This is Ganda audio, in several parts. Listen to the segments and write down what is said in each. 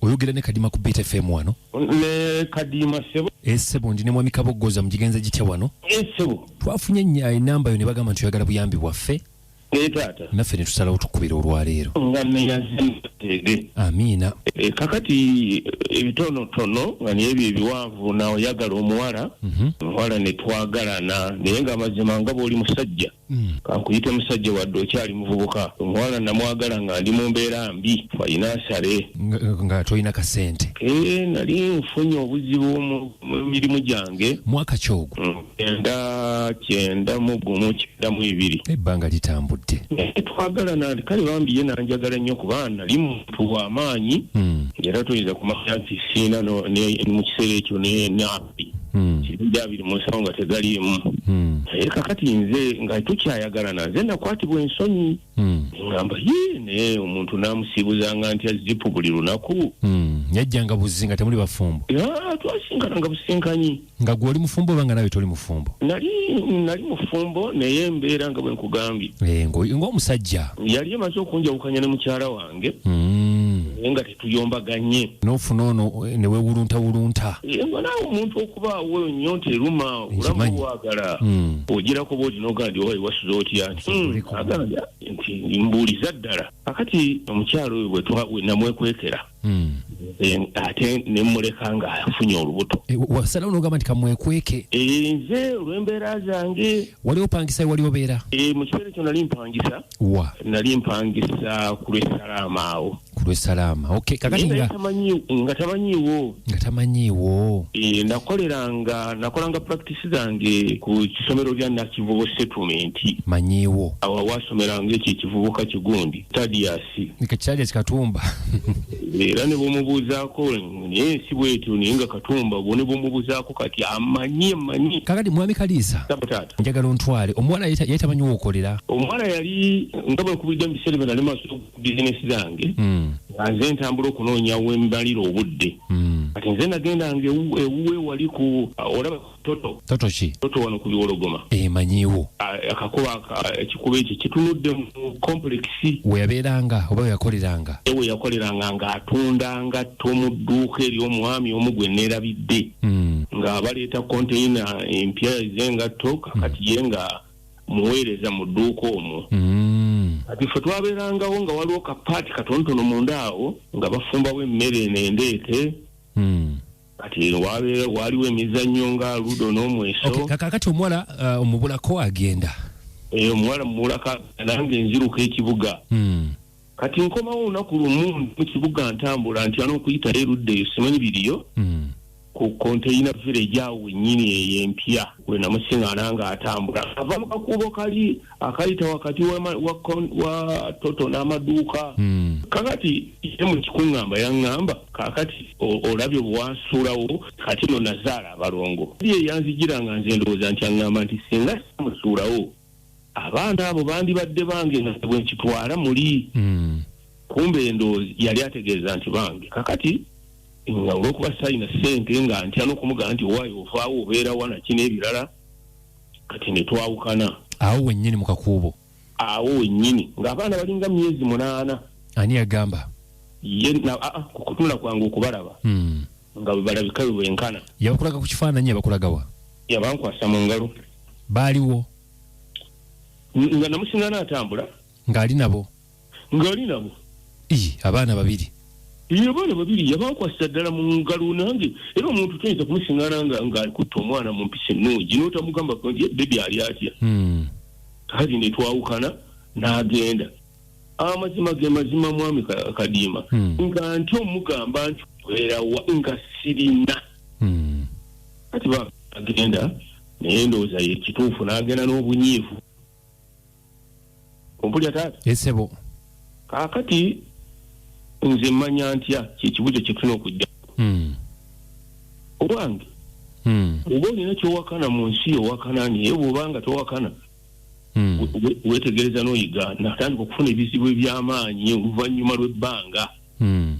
oyogera ne kadima ku beat fm wano ne kadima sebo e sebo ndi ne mwami kabogoza mugigenze gitya wano e sebo twafunye nya enamba yo ne bagamba nti oyagala buyambi bwaffe e tata naffe ne tusalawo tukubira olwaleero nga ne yazimutege amina e, kakati ebitono tono nga ne ebyo ebiwanvu na oyagala omuwala mm -hmm. omuwala ne twagalana naye nga mazima nga boli musajja Mm. kankuyite musajja wadde okyali muvubuka omuwala namwagala nga ndi mu mbeera mbi walina nsale nga tolina kasente eh, nali nfunye obuzibu mu mirimu gyange mwaka kyogo mm, kyenda kyenda mu gumu kyenda mu ibiri ebbanga litambudde eh, twagala nali kale bambi ye nanjagala nnyo kuba nali muntu wamaanyi mm. era toyinza kumanya nti siina mu kiseera ekyo hmm. kirungi abiri mu nsawo nga tegaliimu hmm. naye kakati nze nga tukyayagalana nze nakwatibwa ensonyi hmm. ngamba ye naye omuntu namusiibuzanga ntya zipu buli lunaku yajjanga buzzi nga temuli bafumbo twasinkana nga businkanyi nga gwe oli mufumbo oba nga nawe toli mufumbo nali nali mufumbo naye embeera nga bwenkugambye eh, ng'omusajja yali emaze okunjawukanya ne mukyala wange nga tuyombaganye nofuna ono eh, newewulunta wulunta ngo naawe omuntu okubaawo nnyo nti eruma olamu Nkimanyi. wagala Mm. ogira kuba olina ogamba nti owaye wasuze otya nti "Hmm, Oliko. agambye nti mbuuliza ddala akati omukyalo oyo bwe twa- we namwekwekera Mm. eh, ate ne mmuleka ng'afunye olubuto Eh, wa- wasalawo nogamba nti kamwekweke Eh, nze olw'embeera zange wali opangisa ye wali obeera eh, mu kiseera ekyo nali mpangisa wa nali mpangisa ku lw'essalaama awo ku lwesalaama okay. kakati nga nga tamanyiiwo nga tamanyiiwo e, nakoleranga nakolanga practice zange ku kisomero lya nakivubo settlement manyiiwo awo wasomeranga ekyo ekivubuka kigundi tadiasi tadiasi katumba era ne bumubuuzaako naye si bwetyo naye nga katumba bwo ne bumubuuzaako kati amanyi manyi kakati mwami kaliisa taata njagala ontwale omuwala yali tamanyiwo okolera omuwala yali nga bwekubidde mu biseera byo nali maso bizinesi zange hmm. nga nze ntambula okunoonya wembalira obudde hmm. kati nze nagendanga ewuwe wali ku uh, olaba toto toto ki toto wano ku biwologoma emanyiwo eh, akakuba ekikuba ekyo kitunudde mu komplekisi weyabeeranga oba weyakoleranga ewe yakoleranga ng'atundanga to mu dduuka ery'omwami omu gwe neerabidde hmm. nga baleeta konteyina empya zengatto kakati ye nga muweereza mu dduuka omwo mm. kati ffe twabeerangawo nga waliwo kapaati katonotono munda awo nga bafumbawo emmere eno endeete mm. kati wabeera waaliwo emizannyo nga ludo n'omweso kakakati omuwala uh, omubulako agenda eh, omuwala mubulako nange nziruka ekibuga mm. kati nkomawo olunaku lumu mu kibuga ntambula nti ana okuyitayo erudda eyo simanyi biriyo hmm. ku containa village awo wenyini eyo empya wenamusingana nga atambula ava mu kakuubo kali akayita wakati wa toto n'amaduuka hmm. kakati ye mu kikuŋŋamba yaŋŋamba kakati olabye obwansuulawo kati no nazaala abalongo eyanzijira nga nze ndowooza nti aŋŋamba nti singa simusuulawo abaana abo bandibadde bange nga bwe nkitwala muli mm. kumbe endoozi yali ategeeza nti bange kakati nga olwokuba sayina sente nga ntya nokumugamba nti owayi ofaawo obeera wanaki n'ebirala kati netwawukana awo wenyini mukakuubo awo wenyini ng'abaana balinga myezi munaana ani yagamba ye ah, ah, kutunula kwange okubalaba mm. nga bwe balabika bwe bwenkana. Yabakulaga ku kifaananyi yabakulagawa? Yabankwasa mu ngalo. Baaliwo? Nga namusingana atambula. Ng'ali nabo? Ng'ali nabo. Ii, abaana babiri. Iyo bana babiri yabankwasa ddala mu ngalo nange era omuntu toyinza kumusingana nga ng'akutte omwana mu mpisa ennungi n'otamugamba nti bebi ali atya. Hmm. Kati ne twawukana n'agenda. amazima ge mazima mwami kadiima hmm. nga nti omugamba nti werawa nga sirina hmm. kati bagenda naye ndowooza ye kituufu n'agenda n'obunyiivu ompulya taata esebo kaakati nze mmanya ntya kyekibuzo kyetulina okujja hmm. owange oba olina kyowakana mu nsi yowakana naye bwobanga towakana hmm. wetegereza noyiga natandika okufuna ebizibu ebyamaanyi oluvannyuma lwebbanga hmm.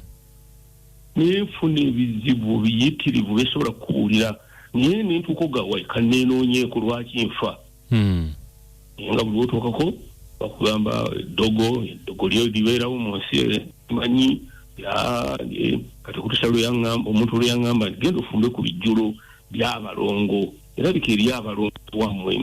naye nfuna ebizibu biyitirivu besobola kukubuulira naye nentuuka ogawaika nenoonyeeko lwaki nfa hmm. naye nga buli wotuukako bakugamba eddogo eddogo lyo libeerawo mu nsi manyi kati okutusa lweyaamba omuntu lweyaŋamba nti genda ofumbe ku bijjulo byabalongo erabika eri abalonzi wammwe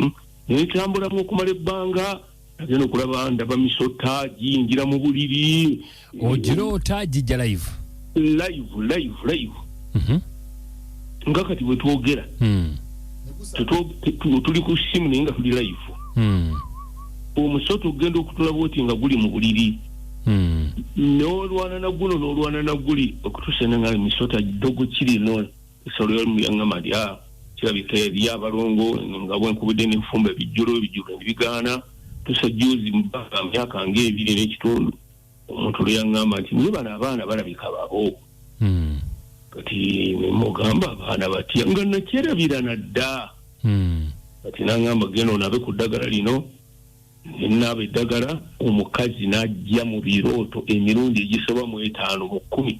netambulamu okumala ebbanga agenda okulaba ndaba misota giyingira mu buliri ogiroota oh, gijja live live live live mhm. nga kati bwe twogera hmm. tuli ku simu naye nga tuli live hmm. omusota okugenda okutulaba oti nga guli mu buliri hmm. n'olwana naguno n'olwana naguli okutusenenga misota dogo kiri nona esolo yalimu yaŋŋama lya kirabika eri abalongo nga bwenkubudde n'enfumba ebijjulo ebijjulo nebigaana tusa juzi mu bbanga myaka ng'ebiri n'ekitundu omuntu lwe yaŋŋamba nti naye bano abaana balabika babo hmm. kati nemugamba abaana batya nga nakyerabira nadda hmm. kati naŋŋamba genda onabe ku ddagala lino nenaaba eddagala omukazi n'ajja mu birooto emirundi egisoba mu etaano mu kkumi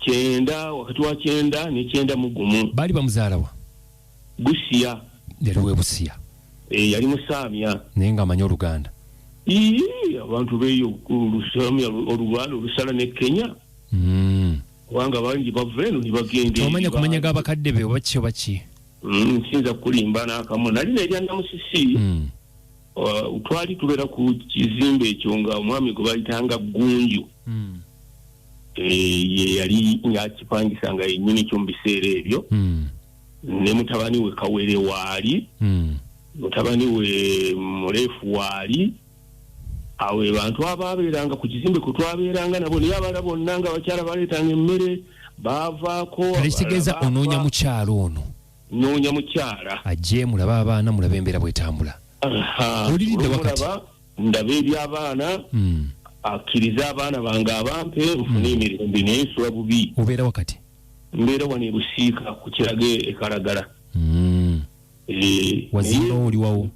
Kyenda, wakati wa kyenda ne kyenda mu gumu. Baali bamuzaala wa? Busia. Yali w'e Busia. Eh, yali Musaamya. Naye ng'amanyi Oluganda. Iyii, abantu beeyo Olusaamya, Oluganda olusala ne Kenya. Mm. Kubanga bangi bava eno ne bagenda. Tomanya kumanya g'abakadde be oba ki oba ki? Mm, nsinza kulimba nakamu nali nerya namusisi mm. uh, twali tubera ku kizimbe ekyo nga omwami gwe bayitanga gunju mm. e, ye yali ngakipangisa nga yenyini kyo mu biseera ebyo mm. ne mutabani we kawere waali mm. mutabani we mulefu waali awo ebantu abaabeeranga ku kizimbe kwe twabeeranga nabo naye abala bonna nga abakyala baleetanga emmere baavaako ekitegeeza onoonya mukyala ono noonya mukyala ajje mulabe abaana mulabe embeera bwetambula oliridde wakati ndaba ebyabaana hmm. akkirize abaana bange abampe nfune hmm. emirembe naye nsula bubi obeera wakati mbeera wano ebusiika ku kirage ekalagala hmm. eh, wazimba oliwawo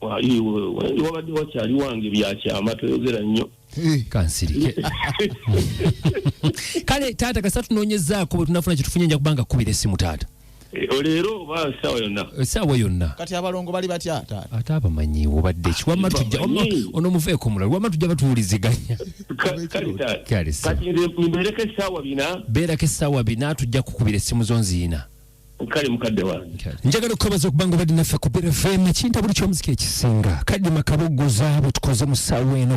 wali wali wabadde wakyali wange byakyama toyogera nnyo Eh, kansirike kale taata kasita tunoonyezaako bwe tunafuna kye tufunye nja kubanga kukubira essimu taata Eh, leero oba saawa yonna essaawa yonna kati abalongo bali batya taata ate abamanyi obadde ki wamma tujja wamma Abamanyi. ono muveeko omulala wamma tujja batuwuliziganya Ka- kale taata Kale, sir. kati nze mbereko essaawa bina beerako essaawa bina tujja kukubira essimu zo nziina kale mukadde wange njagala okukabaza okubanga obadde naffe ku brfm ekinta buli kyomuzika ekisinga kadima kaboggoza bwe tukoze mu ssaawa eno